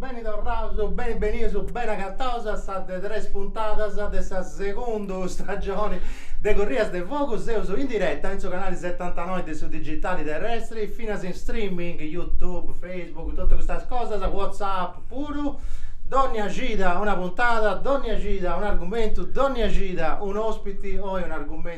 Beni torraus, beni benius, beni agataus a sa de tres puntadas de sa segundu stagioni de Corrias de Fogu. Seus in diretta in su canali setantanoi de su digitali terrestri, finas in streaming, YouTube, Facebook, totu custas cosas, WhatsApp puru. Dònnia cida una puntada, dònnia cida un'argumentu, dònnia cida un'òspiti oi un'argumentu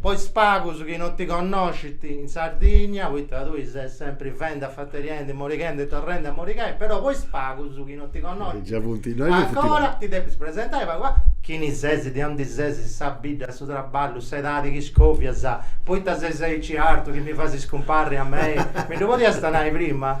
Po is pagus chi non ti connoscint in Sardigna, poita tui ses sempri fendi, afateriendi, morighendi e torrendi a morigai, però po is pagus chi non ti connoscint, ancora ti depis presentai pagu pagu, chini ses, de ondi ses, sa bidda, su traballu, s'edadi chi scovias, poita ses aici artu chi mi fais scumparri a mei, mi ddu podiasta nai prima?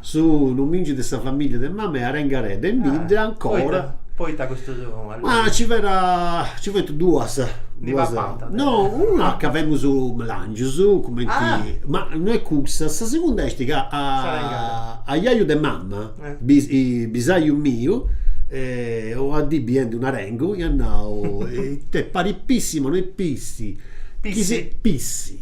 Su nomingiu de sa famiglia de mama est Arengaredda in bidda ancora. Poita custus nomingius? Ma ci fera ci funt duas. Ndi papant de. No, una ca femus langius, cumenti, ma no est cussa, sa segunda est ca a a jaju de mama, bisaju miu, una dì biendi un arengu iat nau, ite parit pissi ma no est pissi, pissi.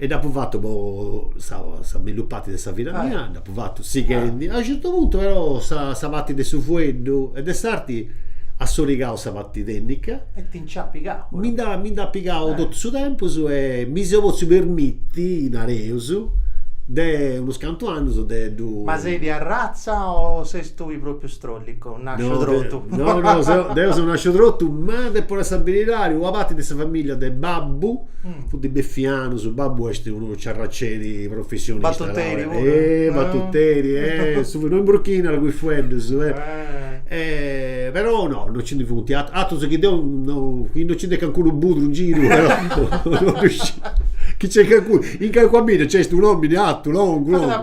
E dd'apu fatu po sa sa mellus parti de sa vida mia, dd'apu fatu sighendi, a unu certu puntu però sa sa parti de su fueddu e de s'arti at sorigau sa parti tènnica, mi nd'at mi nd'at pigau totu su tempus e mi seu potziu permiti, nareus, de unus cantu annus de ddu Ma ses de arratza o ses tui propriu strollicu? nasciu trotu. No, no, no, deu seu nasciu trotu, ma depu nai sa beridadi, una parti de sa familia de babbu funt beffianus, babbu est unu ciarraceri professionista. Battuteri puru. Eh, battuteri, eh, su no imburchinat cun is fueddus, eh. Però no, no nci ndi funt, atrus chi deu no, chi no nci nd'est cancunu budru in giru, però, no ddu sciu. Chi nc'est calincunu, in calincuna bidda nc'est un'omini atu, longu, longu.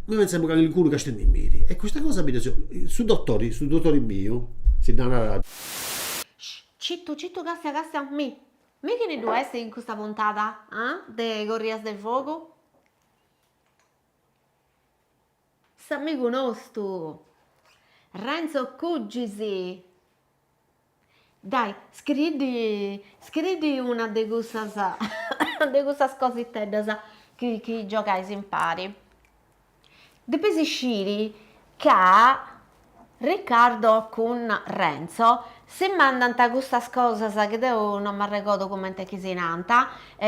mi pensamu ca calincunu castiendimì e custa cosa mi dda su dotori su dotori miu si dda narat. Cittu cittu castia castia mi mi chini ddu est in custa puntada ah de corrias de fogu? S'amigu nostu Renzo Cugis. Dai, scriiddi scriiddi una de cussas de cussas cositeddas chi chi giogais impari. Depeis sciri ca Riccardo cun Renzo si mandant custas cosas chi deu non m'arregordu cumenti si nant,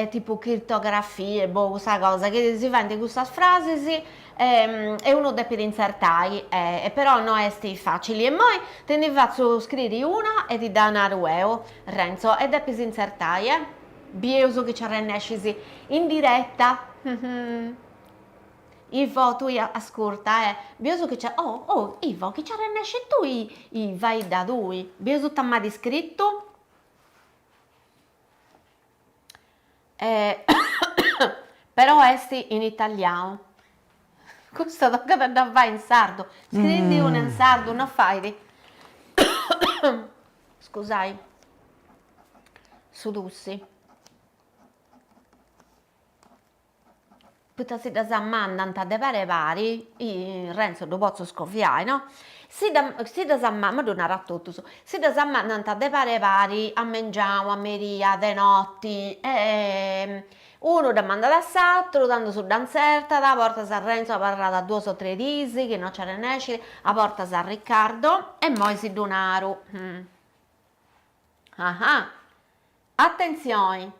tipu crittografie, boh cussa cosa, chi si faint cussas frasis e e unu depit intzertai e però no est facili e moi ti ndi fatzu scriri una e ti dda naru eo Renzo e depis intzertai e bieus chi ci arrennescis in diretta Ivo tui ascurta e bieus chi ci oh oh Ivo chi ci arrennesci tui faidda tui bieus ita m'at iscritu E però est in italianu. Custa tocat a dda fai in sardu. Scriendi una in sardu no fait scusai su tussi. Poita si ddas mandant de pare pare, Renzo ddu potzu scoviai no, si ddas si ddas ma ddu naru a totus, si ddas mandant de pare pare a mengianu, a meria, de noti e unu dda mandat a s'aturu, tandus dda intzertat, a bortas Renzo abarrat duos o tres dis chi no nci arrennescit, a bortas Riccardo e moi si ddu naru, ah ah Atentzioni!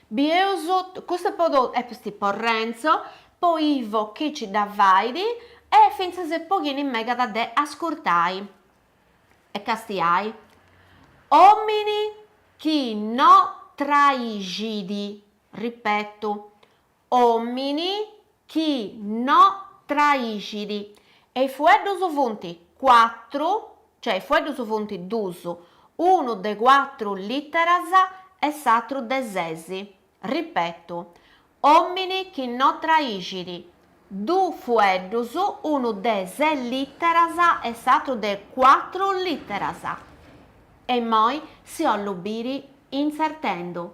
Bieus custa po totu est po Renzo, po Ivo chi ci dda fait e fintzas po chini megat de ascurtai e castiai. Omini chi no traixit, ripetu, Omini chi no traixit. E i fueddus funt cuatru, cioè i fueddus funt dus, unu de cuatru literas e s'atru de ses. Ripetu, Omini chi no traixit. Du fueddus, unu de ses literas e s'atru de cuatru literas. E immoi si 'ollu biri intzertendu.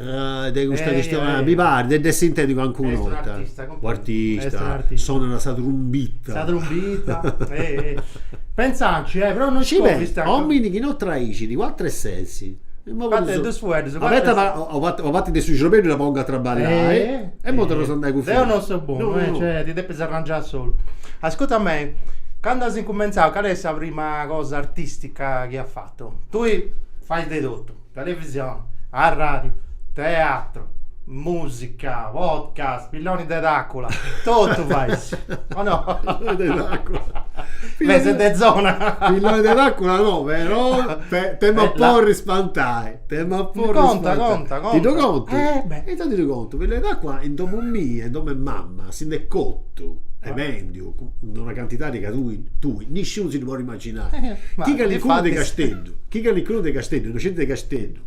de custa chistioni mi parit de nd'essi intendiu calincuna 'orta, un'artista, sonat sa trumbita. Sa trumbita pentzaci eh, però no isco poita. Omini chi no traixit, cuatru e ses. Fattu de dus fueddus, cuatru e ses. Una parti de su ciorbeddu dda pongu a traballai e mo torraus a andai cun. Deu no seu bonu eh, cioè ti depis arrangiai solu. Ascurta a mei, candu as incumentzau cali est sa prima cosa artistica chi as fatu? Tui fais de totu. Televisione, arràdiu, teatru, mùsica, podcast, pilloni de tàcula, totu fais, o no? Pilloni de tàcula. Mesu de zona. Pilloni de tàcula no, però t'em'a porri spantai. T'em'a porri spantai. Conta, conta. Ti ddu contu? Eh beh. E intandus ddu contu. Pilloni de tàcula in domu mia, in domu 'e mama, si nd'est cotu, e bèndiu, in una cantidadi ca tui, tui, nisciunu si ddu podit Chi calincunu de Casteddu, chi calincunu de Casteddu, innocenti de Casteddu,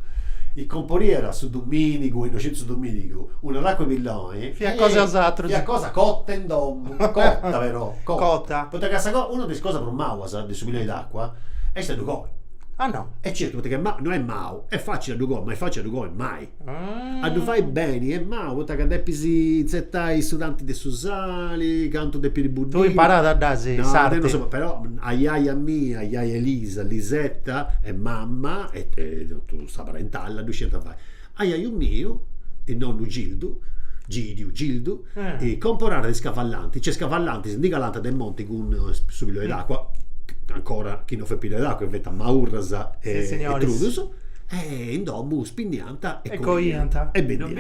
chi comporiat su domìnigu, innocenti su domìnigu, una tàcua 'e pilloni, fiat cosa cota in domu, cota però, cota, poita ca sa cosa, una de is cosas prus mauas de su pilloni 'e tàcua est a ddu coi. Ah no. E certu, poita ca no est mau, est facili a ddu coi, ma est facili a ddu coi mai. A ddu fai beni est mau, poita ca depis tzetai su tanti de su sali, cantu depit buddiri. Tui imparada dd'as s'arti. Però ajaja mia, ajaja Elisa, Lisetta e mama e totu sa parentalla ddu sciant fai. Ajaju miu, is nonnu Gildu, Gidiu, Gildu, comporàt de is cavallantis, cioè is cavallantis ndi calànt de monti cun su pilloni 'e tàcua, ancora chi non fiat pilloni 'e tàcua, fiant maurras e trudus e in domu ddu spinniant e coiant e bendiant.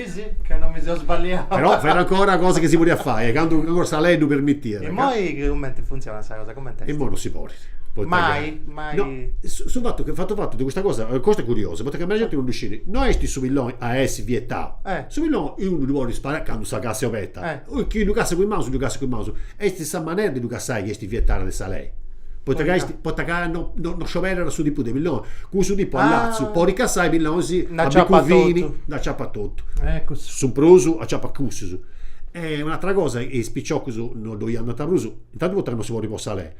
Però fiat ancora cosa chi si podiat fai, candu ancora sa lei ddu permitiat. Immoi cumenti funtzionat sa cosa, cumenti est? Immoi non si podit. Mai? Mai? No, su fatu chi, fatu fatu de custa cosa, cosa est curiosa, poita chi meda genti non ddu scit, no est su pilloni a essi vietau, su pilloni unu ddu podit sparai candu sa cassa est obeta Chi ddu cassat cun is manus ddu cassat cun is manus, est sa manera de ddu cassai chi est vietara de sa lei, poita ca est, poita ca no no scioberat su tipu de pilloni, cussu tipu a latzu podit cassai is pillonis a biccu fini dd'aciapat totu, su prus aciapat cussus. E un'atera cosa, is piciocus no ddoi andant prus, intantu poita ca no si podit po sa lei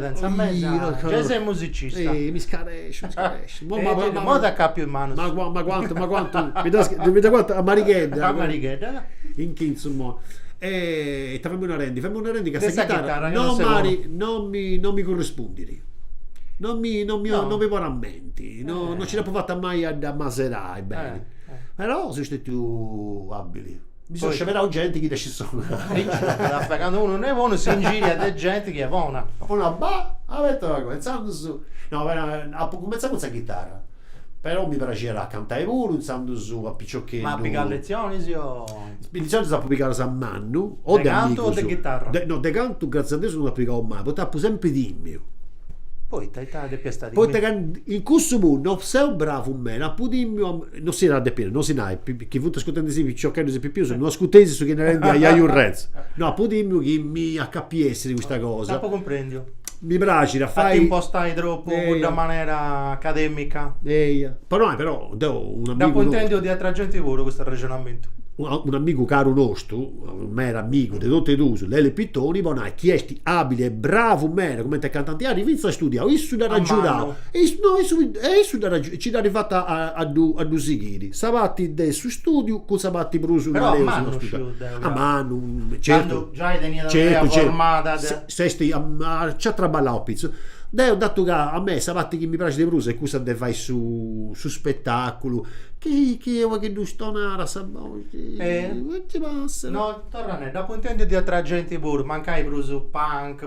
Senza mesa giai sei musicista. Ehi, mi scaresciu, mi scaresciu. Mo ma ma mo t'accappiu in manu. Ma ma quantu, ma quantu. Mi das mi da quantu a Marighedda. A Marighedda. In chintzu mo. E ita femus narendi, femus narendi ca sa chitarra non m'at, non mi non mi currispundit. Non mi non mi non mi ponit a menti, non non ci dd'apu fata mai a dd'ammasedai beni. Però seu stetiu abili Mi seu sceberau genti chi scit sonai. Afe candu unu no est bonu s'ingiriat de genti chi est bona. Ponu a ba abeta agoa intzandus. No apu cumenzau cun sa chitarra, però mi praxiat a cantai puru intzandus a piciocheddu. Ma pigas lezionis o. Lezionis apu pigadas a mannu o de amigus. De cantu o de chitarra? No de cantu gratzias a Deus no apu pigau mai, poita apu sempri timiu. Poita ita depias ita timi. Poita ca in cussu puru no seu bravu meda, apu timiu a Non s'iat a depi nai, non si nai, chi funt ascurtendisì piciocheddus e pipius, non ascurteis su chi est narendi aiaiu Renzu. No apu timiu chi mi acapiessit custa cosa. T'apu cumprendiu. Mi praxit a fai. A t'impostai tropu cudda manera academica. Eia. Po nai però, deu unu amigu. Dd'apu intendiu de atra genti puru custu arrexonamentu. Unu amigu caru nostu, meda amigu de totu e duus, Lele Pittoni, po nai chi esti abili e bravu meda cumenti cantanti at fintzas studiau, issu dd'at agiudau. A manu. No, issu dd'at agiudau. e ci dd'arrivat a ddu sighiri sa parti de su istùdiu cun sa parti prus, però a mannu sciu deu ca, a mannu, candu giai teniat un'idea formada de, s'est nci at traballau a pitzus, deu datu ca a mei sa parti chi mi praxit de prus est cussa de fai su su spetàculu, chi chi est unu pagheddu stonada sa boxi, e ita passat, no torra a nai, dd'apu intèndiu de atra genti puru, mancai prus punk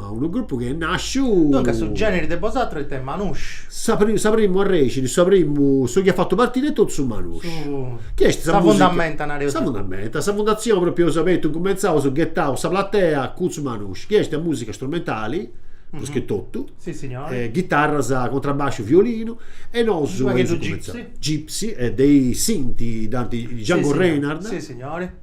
Ma unu grupu chi est nàsciu. Duncas su gèneri de bosàteros est Manouche. Sa sa primu arrèxini, su primu, su chi at fatu partiri est totu su Manouche. Chi est sa fundamenta, nareus. Sa fundamenta, sa fundatzioni pròpriu eus abertu incumentzaus, ghetaus sa platea cun su Manouche, chi est musica strumentali, prus che totu. Si signori. Ghitarras, contrabbasciu, violinu e nosu. Gipsi. Gipsi e de is Sinti dd'ant Django Reinhardt. Si signori.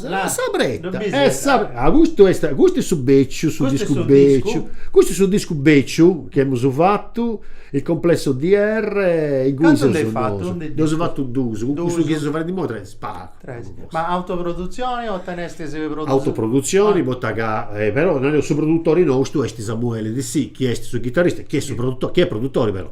La sa preta custu est custu est su beciu su discu beciu custu est su discu beciu chi emus fatu il complesso DR inguni seus nosu ddos eus fatu duus cun custu chi seus fadendi imoi tres pagu tres ma autoprodutzioni o tenestis produtzioni autoprodutzioni poita ca però nareus su produtori nostu est Samuele Dessì chi est su chitarrista chi est su produtori chi est produtori però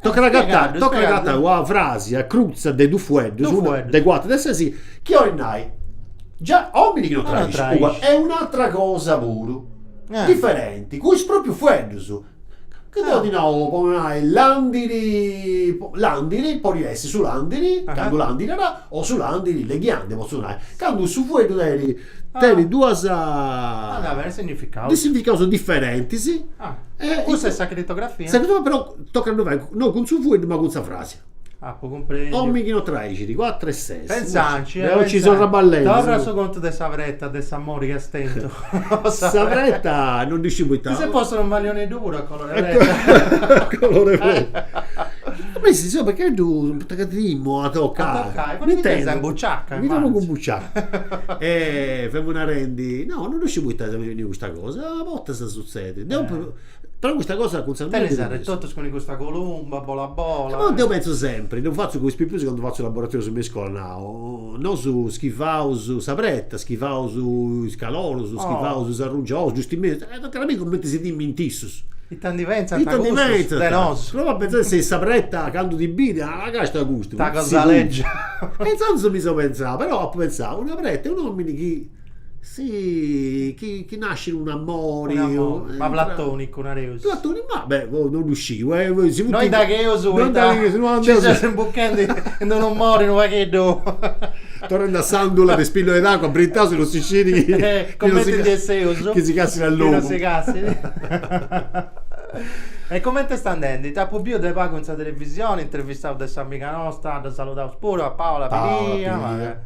Tocat agatai tocat agatai una frasia crutza de dus fueddus, una de cuatru de ses, chi 'olit nai, già, omini chi non traiscit, e un'atra cosa puru, diferenti, cun is proprius fueddus, chi deu ti nau, po nai, landiri, landiri, podit essi su landiri, candu landirat O su làndiri, le ghiande potzu nai, candu su fueddu tenit tenit duas significaus diferentis. Cussa est sa critografia. Sa critografia però tocat a ddu fai non cun su fueddu ma cun sa frasi. Apu cumprendiu. Omini chi no traixit, cuatru e ses. Pensanci, eh. Deu ci seu traballendu. Torra su contu de sa preta de s'amori chi est tentu. Sa preta non ddu sciu poita. Chi si possu unu malioneddu puru a. Colore fuoi. Beh si insomma che ddu poita ca timu a toccai. Mi intendo. Sa buciacca. Mi femu cumbuciai. E femu narendi, no, non ddu sciu poita mi benit custa cosa, a bortas sutzedit. Deu, però custa cosa cun sa mia. Tenis arretotus cun custa columba bola bola. Deu pentzu sempri, ddu fatzu cun is pipius candu fatzu laboratorius me iscola nau Nosu schivaus sa preta, schivaus is calorus, schivaus is arrangiolus, giustamenti, e tocat a biri cumenti si timint issus. Ita ndi pentzant cussus de nosu. Prova a pentzai si sa preta candu ti bit, ah càstia a custu. Ta cosa legia. E intzandus mi seu pentzau, però apu pentzau, una preta e un'omini chi Si chi chi nascit un'amori. Un'amori, ma platonicu nareus. Platonicu, ma beh, non ddu sciu. Nois dagheus poita nci seus imbuchendi in unu mori unu pagheddu. Torrendi a s'andula de is pillus de s'acua, brintau si non si scit chi. Cumenti ndi esseus. Chi si cassit a logu. Chi non si cassit. E cumenti est andendi? T'apu biu de pagu in sa televisioni, intervistau de s'amiga nosta, dda saludaus puru a Paola Pilia.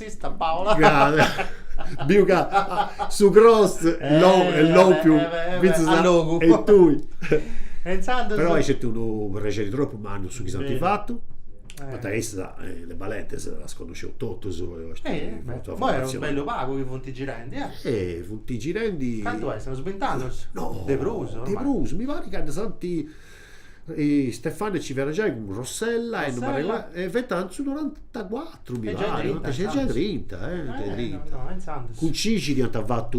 Artista Paola. Biu ca su cross est lòmpiu fintzas a logu. E tui. E intzandus. Però est unu prexeri tropu mannu su chi s'ant fatu, poita issas le Balentes ddas connosceus totus. Imoi est unu bellu pagu chi funt girendi. E funt girendi. Cantu est, seus bint'annus? No. De prus. De prus, mi parit ca ndi s'ant. Stefania ci fiat giai cun Rossella e fiat in su norantacuatru mi pari, giai trinta, cun Cixiri iant fatu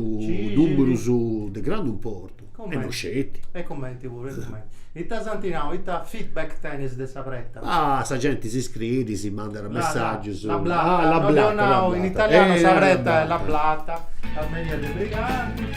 numerus de grandu importu e no sceti. E cumenti puru, e cumenti. Ita s'ant nau, ita feedback tenis de sa preta? Ah sa genti si scriit, si mandat messagius. La blatta, no dd'eus nau in italianu sa preta est la blatta, Armeria dei Briganti.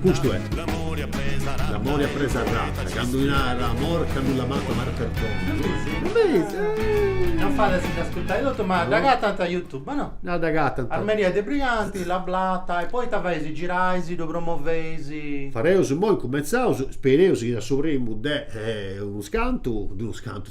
Custu est. L'amori a presa arrata. Candu si narat amor, ch'a nullo amato amar perdona. Non fait a si dd'ascurtai totu, ma dd'agatant a Youtube, o no? No, dd'agatant. Armeria dei Briganti, La Blatta, e poi ita feis, girais, ddu promoveis? Fareus imoi, cumentzaus, spereus chi da su primu de unus cantu, de unus cantu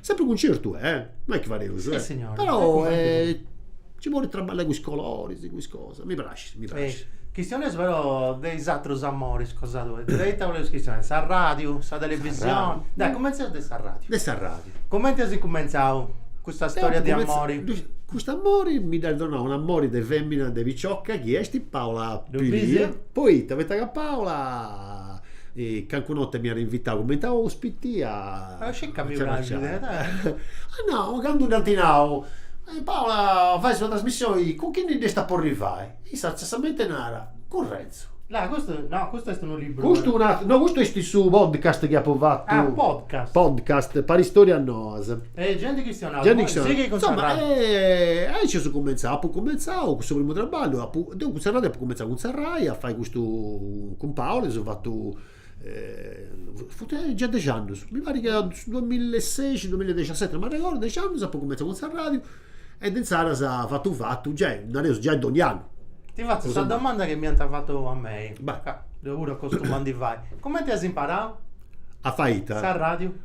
Sempre concertu, eh? Non est chi fadeus, eh? Sissignore. Però nci bolit traballai cun is coloris, cun is cosas. Mi praxit, mi praxit. Chistioneus però de is atrus amoris cosa tui. De ita boleus chistionai? S'arradiu, sa televisioni? Dai, cumentzeus de s'arradiu. De s'arradiu. Comenti as incumentzau custa storia de amori? Cust'amori mi dd'at donau un'amori de femina de picioca chi est Paola Pilia. Poita, poita ca Paola calincun'orta m'iat invitau cumenti a ospiti a Circa mi praxit. Ah no, candu dd'ant nau, Paola fais una trasmissioni, cun chini dd'iast a porri fai? Issa giustamente narat, cun Renzu. No, custu no, custu est unu liburu. Custu un'at, no custu est su podcast chi apu fatu. Ah, podcast. Podcast, Paristorias noas. E gei ndi chistionaus. Gei ndi chistionaus. Sighi cun sa radiu. Insoma, aici seu cumentzau, apu cumentzau cussu primu traballu, apu, deu cun sa Rai apu cumentzau cun sa Rai a fai custu cun Paola, eus fatu funt giai dexi annus, mi parit ca su duamillaseixi, duamilladixaseti, non m'arregordu, dexi annus apu cumenzau cun sa radiu e de inzaras fatu fatu, giai, nareus, giai dogni annu. Ti fatzu sa domanda chi m'iant fatu a mei, ca deu puru acostumu a ndi fai, cumenti as imparau? A fai ita? Sa radiu.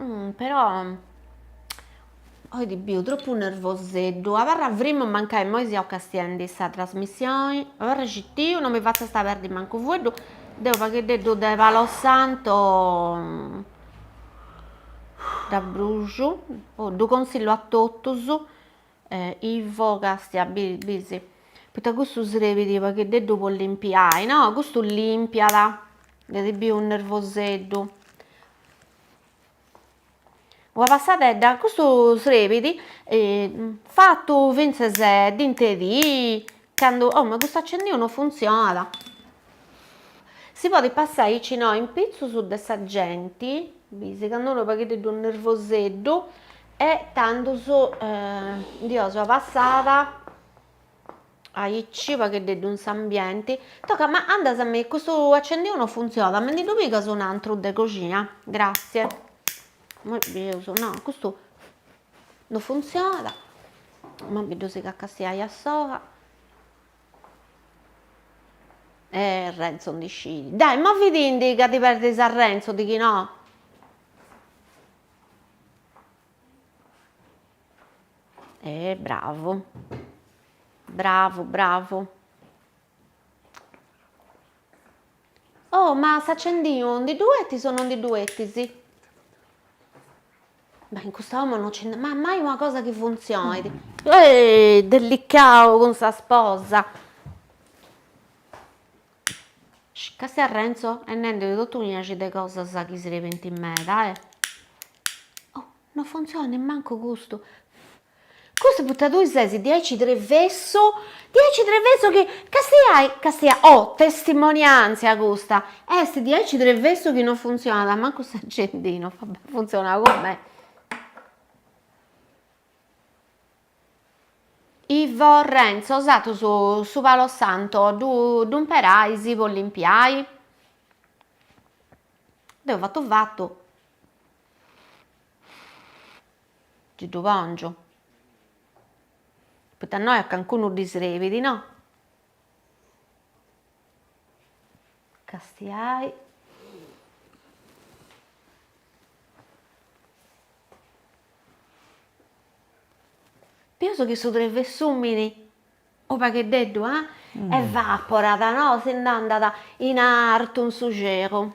Mm, però oi ti biu tropu nervoseddu, abarra frimu mancai immoi seus castiendi sa trasmissioni, abarra citiu, non mi fatzasta perdi mancu unu fueddu, deu unu pagheddeddu de palo santo dd'abruxu, oh, ddu consillu a totus. Ivo castia bis poita custu srebit unu pagheddeddu po limpiai no custu limpiat deu ti biu nervoseddu una passadedda custu srebit fatu fintzes donnia dì Candu, oh ma custu accendinu no funtzionat, si podit passai aici no, in pitzus de sa genti, bis candu unu pagheddeddu nervoseddu e tandus ddi 'onas una passada aici unu pagheddeddu in s'ambienti, tocat ma andas a mi, custu accendinu no funtzionat, mi ndi ddu pigas un'antru de coxina, grassie, imoi bis, no, custu No funtzionat, ma mi' ddu sicat a castiai a s'oja e Renzo ndi scidi, dai ma biti-ndi ca ti perdis a Renzo ti chi no. E bravu bravu bravu Oh, ma s'acendinu ndi ddu 'etis o non ndi ddu 'etis? Ma in custa 'omo non nci at mai una cosa chi funtzionit. Ehi, delicau cun sa sposa. Castia Renzo est nendi totu unu sciacu de cosas chi si serbint meda, eh. Oh, non funtzionat mancu custu. Custu poita tui ses diaici trevesso, diaici trevesso chi castiai, castia, oh testimoniantzia custa, est diaici trevessu chi non funtzionat mancu s'accendino, va bè funtzionat cun me. Ivo, Renzo, bosatrus su palo santo ddu imperais po limpiai? Deu fatu fatu Gei ddu pongio. Poita innoi a cancunu ddi srebit, no? Castiai. Pius chi su trevessumini, unu pagheddeddu, ah? Evaporat, no? Si nd'andat in artu in su celu.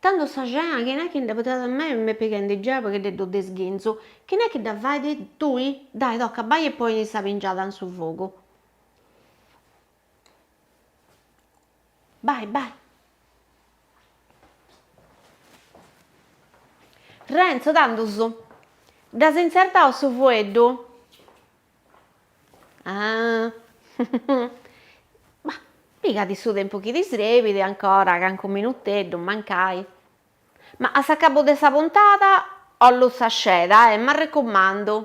Tandu sa cena chini est chi ndi dda portat? A mei m'est pighendi giai pagheddeddu de sghinzu, chini est chi dda fait? Tui, dai toca bai e poni sa pingiada in su fogu. Bai bai. Renzo, tandus dd'as intzertau su fueddu. Bah, pigadì su tempus chi ti srebit, ancora calincunu minuteddu mancai, ma a s'acabu de sa puntada 'ollu sa sceda e m'arrecumandu.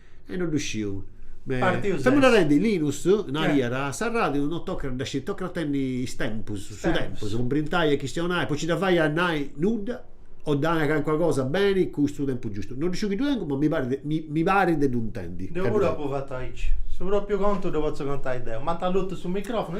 E no ddu sciu. Me Partius est. narendi, Linus, nariat, a s'arràdiu no tocat a dda sciri, tocat a tenni is tempus, su tempus, po brintai e chistionai, po nci dda fai a nai nudda o dda nai calincuna cosa beni cun su tempus giustu. No ddu sciu chi ddu tengu, ma mi parit mi mi parit de ddu intendi. Deu puru apu fatu aici. Su propriu contu ddu potzu contai deu. M'ant allutu su microfonu.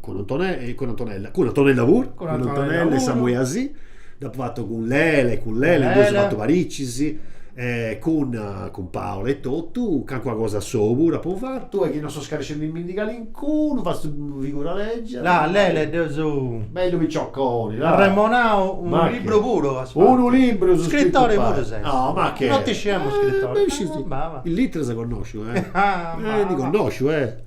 cun Antonella, cun Antonella, cun Antonella puru, cun Antonella e Samuele Dessì, dd'apu fatu cun Lele, cun Lele nd'eus fatu paricis, e cun cun Paola e totu, calincuna cosa assou puru apu fatu. E chi no seu scarescendimindi calincunu, fatzu figura legia. La Lele e deu su. Bellu picioconi, la. Arremonau unu libru puru as fatu. Unu libru apu scritu. Scrittori puru ses. No, macché. Non diciamo scrittori. Is literas connosciu, eh. Ah, ma. Ndi connosciu, eh.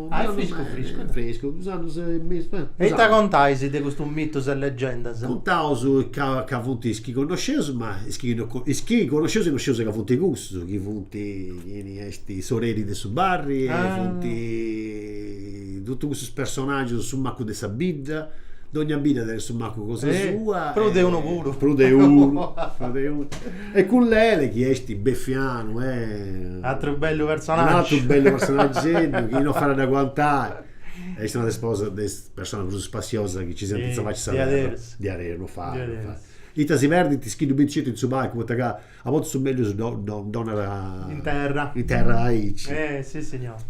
Ah, est friscu friscu, est friscu, duus annus e mesu, beh. E ita contais de custus mitus e legendas? Contaus ca ca funt is chi connosceus, ma is chi no is chi connosceus e no scius ca funt cussus, chi funt, chini est, s'oreri de su barri e funt totus cussus personagius, su macu de sa bidda, dogna bidda tenet su macu cosa sua e. Prus de unu puru. Prus de unu, prus de unu E cun Lele chi est beffianu e. Atru bellu personaggiu. Un'atru bellu personaggeddu chi no fait a dd'aguantai. Est una de is posas de is personas prus spassiosas chi ci siant in sa faci de sa terra. Diaderus. No fait, no fait. Ita si perdint is chi ddu bint sceti in su palcu poita ca a bortas su mellus ddu 'onat. In terra. In terra aici. Sissignori,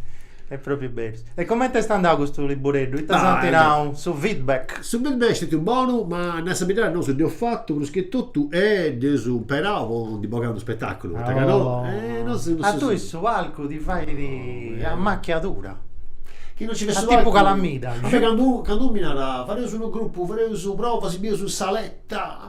est propriu berus. E comente est andau custu libureddu? Ita s'ant nau, su feedback? Su feedback est stetiu bonu, ma a nai sa beridadi nosu dd'eus fatu prus che totu e dd'eus imperau po ndi bogai unu spetaculu, poita ca no, nosu A tui su palcu ti fait amachiadura, chi no nci fessit su palcu, a tipu calamita. A mei candu unu mi narat fadeus unu grupu, fadeus provas, si bieus in saleta,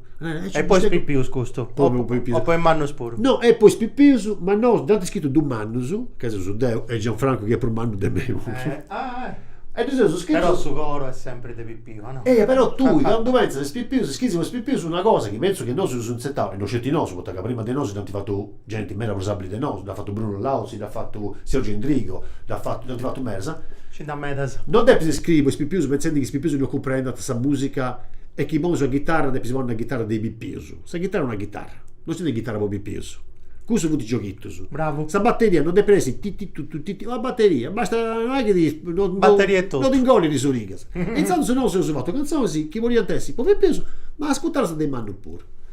E po is pipius custu? O po is mannus puru? No, est po is pipius, ma no dd'ant scritu dus mannus, ca seus deu e Gianfrancu chi est prus mannu de mei puru. E dd'eus scritu. Però su coru est sempri de pipiu, o no? Eia, però tui candu pentzas is pipius, scrisi po is pipius una cosa chi pentzu chi nosu dd'eus intzertau, e no sceti nosu, poita ca prima de nosu dd'ant fatu genti meda prus abili de nosu, dd'at fatu Bruno Lauzi, dd'at fatu Sergio Endrigo, dd'at fatu, dd'ant fatu medas. Nci nd'at meras. No depis scriri po is pipius pentzendi chi is pipius no cumprendant sa musica e chi ponis sa ghitarra depis ponni una ghitarra de is pipius. Sa ghitarra est una ghitarra, no esistit ghitarra po is pipius. Cussus funt gioghitus. Bravu. Sa batteria no depit essi ti ti tu tu ti ti, una batteria, basta, no est chi Batteria e totu. No ti ingollit is urigas. E intzandus nosu eus fatu cantzonis chi podiant essi po is pipius, ma ascutadas de is mannus puru.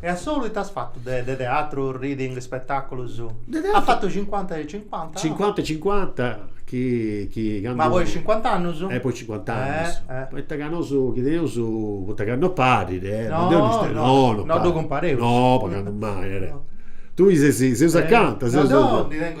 E a solu ita as fatu de de teatru, reading, spetaculus? De teatru As fatu cincuanta e cincuanta no? Cincuanta e cincuanta chi chi candu Ma poi cincuant'annus? E poi cincuant'annus Eh eh Poita ca nosu chi teneus, poita ca no parit eh, no deu no isciu, no no parit, no ddu cumpareus, no po candu mai, tui ses seus acanta, seus No deu ndi tengu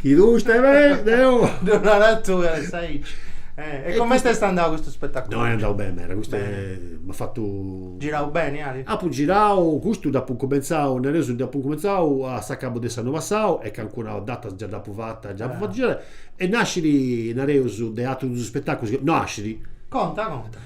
Chi custu est deu. Deu narà tui as a essi aici. Eh, e comenti est andau custu spetaculu? No, est andau beni meda, custu est, m'at fatu, Girau beni ali? Apu girau, custu dd'apu incumentzau, nareus dd'apu incumentzau a s'acabu de s'annu passau e calincuna data già dd'apu fata, dd'apu fatu girai e nascit, nareus, de atrus dus spetaculus, nascit. Conta, conta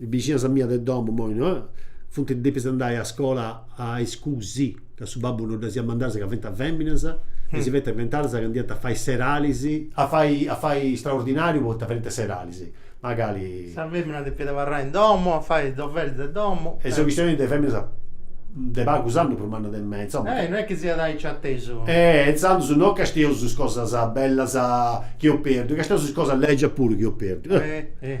Is bixinas mias de domu, moi no, funt depias andai a scola a iscusi, ca su babbu no ddas iat mandadas ca fint feminas e si fint inventadas ca andànt a fai seralis, a fai a fai straordinariu po nci fai is seralis, magari. Sa femina depiat abarrai in domu a fai is doveris de domu. E seu chistionendi de feminas de pagus annus prus mannas de mei, insoma. Eh, no est chi siat aici atesu. Eh, intzandus no castieus is cosas bellas chi eus perdiu, castieus is cosas legias puru chi eus perdiu. Eh.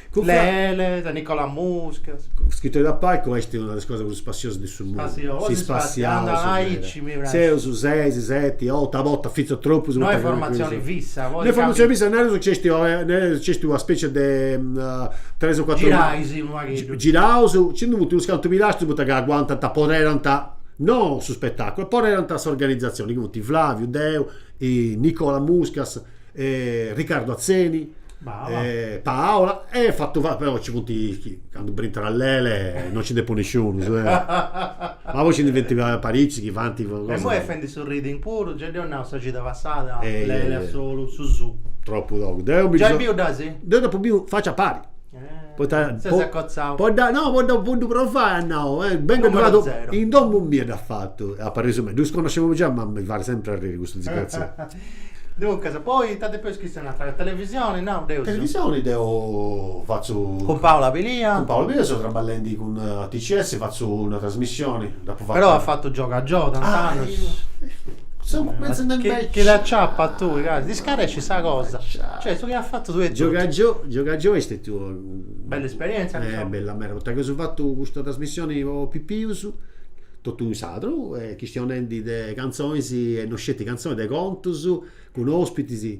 Lele de Nicola Muscas. Scrittori da palco est una de is cosas prus spassiosas de su mundu. Si spassiaus meda. Seus ses, seti, otu, a bortas fintzas tropus. No est formatzioni fissa. No est formatzioni fissa, nareus nci est nareus nci est una specie de tres o cuatru. Girais unu pagheddu. Giraus, nci ndi funt unus cantu pilastrus poita ci aguantant, apoderant, no su spetaculu, apoderant s'organizzazioni chi funt Flaviu, deu, Nicola Muscas e Ricardo Atzeni e Paola e fatu fatu però ci funt candu brintat Lele non ci nd'est po nisciunus ma poi ci ndi funt paricis chi fant cosas e imoi est fendi su reading puru già dd'eus nau sa cida passada Lele a solu eus nau tropu togu deu mi ddas deu dd'apu biu faci a pari Poita po po dda no po dda po ddu provai at nau, benga ddu fatu, in domu mia dd'at fatu, apareus meda, ddus connoscemu giai ma mi fait sempri arriri custu disgraziau. Duncas, poi ita depu ischi sa natura, televisioni nau, deu seu. Televisioni deu fatzu. Cun Paola Pilia. Cun Paola Pilia seu traballendi cun TCS, fatzu una trasmissioni, dd'apu fata. Però as fatu gioga gioga, tanti annus. Seu pentzendi invecias. Chi dd'aciapat tui, casi. Nd'iscarescit sa cosa. Cioè, su chi as fatu tui e totu. Giogagioi, giogagioi est stetiu una. Bella esperientzia, diciamo. Eh, bella meda, poita chi eus fatu custa trasmissioni po pipius, totu in sardu, chistionendi de cantzonis e no sceti cantzonis, de contus, cun ospitis.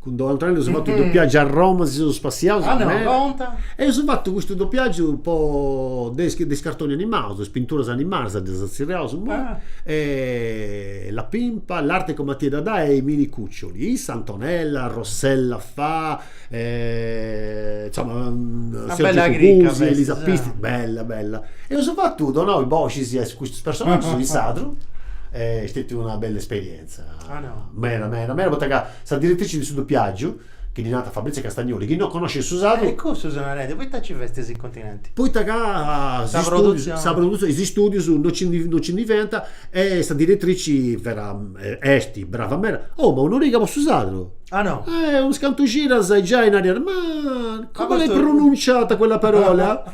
Cun Antonella eus fatu dopiagiu a Roma, si seus spassiaus meda. E eus fatu custu dopiagiu po de de is cartonis animaus, is pinturas animadas ddas zerriaus immoi. La Pimpa, L'arte con Matì e Dadà e i mini cuccioli. Issa Antonella, Rossella Faa, insoma, Elisa Pistis, bella bella. E eus fatu, donau is boxis a custus personaggius in sardu, est stetiu una bella esperienza, meda meda meda, poita ca Sa diretrici de su dopiàgiu, chi ddi narant Fabrizia Castagnoli, chi no connoscit su sardu. E cussu seu narende, poita nci festis in continenti? Poita ca is stùdius, sa produtzioni, is stùdius no nci ndi no nci ndi fiant e sa diretrici fiat, est brava meda. Oh ma un'origa po su sardu. Ah no? Eh, unus cantu cidas e giai nariat, ma come l'hai pronunciata quella parola?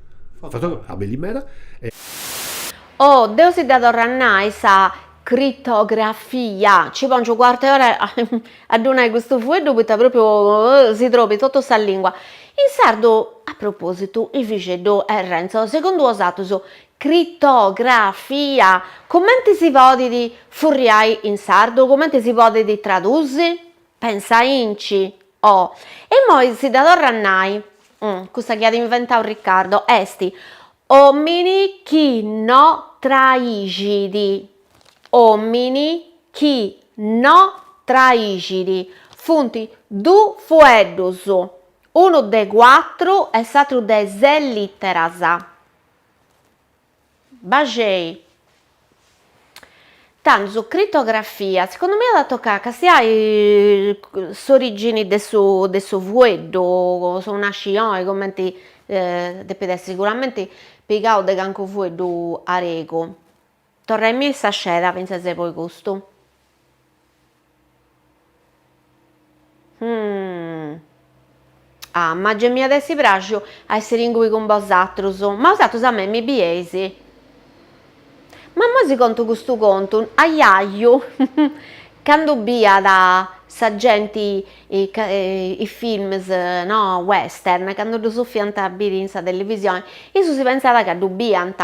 Oh, deo si dda torru a nai sa critografia, ci pongiu cuart'e ora a ddu nai custu fueddu poita propriu si trobit totu sa lingua in sardu, a propositu Ivixeddu e Renzo, segundu 'osatrus, critografia cumenti si podit furriai in sardu, cumenti si podit tradusi? Pensai-nci, oh. E immoi si dda torru a nai, cussa chi at inventau Riccardo, est, Omini chi no traixit, omini chi no traixit. Funt du fueddus, unu de cuatru e s'atru de ses literas. Baxei. Tando su critografia, segundu mie at a toccai a castiai s'origini de su de su fueddu, su nasci oi cumenti depit essi siguramenti pigau de calincunu fueddu aregu, torraimì sa sceda finzas de poi custu Ah, ma gei m'iat essi praxiu a essiri ingui cun bosatrus, ma 'osatrus a mei mi bieis. Ma immoi si contu custu contu, ajaju, candu biiat sa genti is films, no, western, candu ddus fiant a biri in sa televisioni, issu si pentzat ca ddu biiant.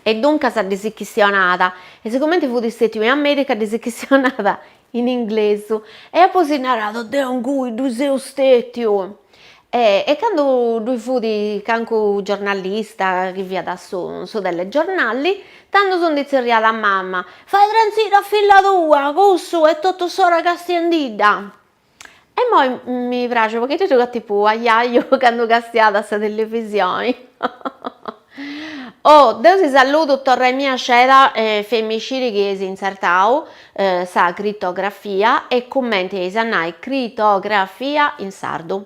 E duncas ddis chistionat, e sigumenti fut stètiu in Amèrica ddis chistionat in inglesu, e apoi si narat, deu ingui ddu seu stètiu, e e candu ddui fut cancu giornalista chi fiat su su telegiornali, tandu si ndi tzerriat a mama, fai trantziri a filla tua, cussu est totu s'ora castiendidda. E moi mi praxit poita ddis giogat tipu ajaju candu castiat a sa televisioni oh deu si saludu torraimì sceda e feimì sciri chi eis intzertau sa critografia e cumenti eis a nai critografia in sardu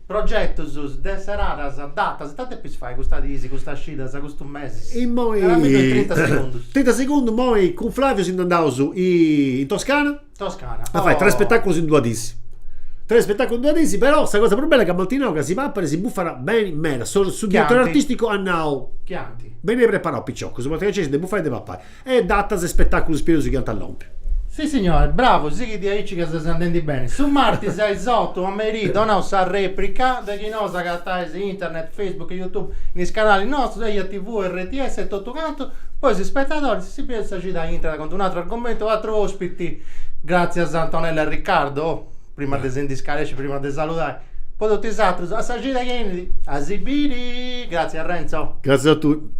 Progetus, de seradas, datas, ita depis fai custas dis, custas cidas, custus mesis? Immoi. Naramiddu in trinta segundus. Trinta segundus, immoi cun Flaviu si nd'andaus in Toscana. Toscana, oh. A fai tres spetaculus in duas dis. Tres spetaculus in duas dis, però sa cosa prus bella est ca m'ant nau ca si papat e si bufat beni meda. Su diretori artisticu at nau. Chianti. Benei preparaus piciocus, poita ca nc'est de bufai e de papai. E datas e spetàculus pius chi ant a lompi. Sissignore, bravu, sighi de aici ca ses andendi beni. Su martis a is otu a merì donaus sa reprica, de chi nou s'agatais internet, facebook, youtube, in is canalis nostus, eia TV, rts e totu cantu, po is spetadoris, si bieus sa cida intrat cun d'un'atru argomentu e un'atru ospiti, gràtzias a Antonella e Riccardo, oh, prima de si ndi scaresci, prima de saludai, po totu is atrus, a sa cida chi 'enit a si biri, gràtzias Renzo. Gràtzias a tui.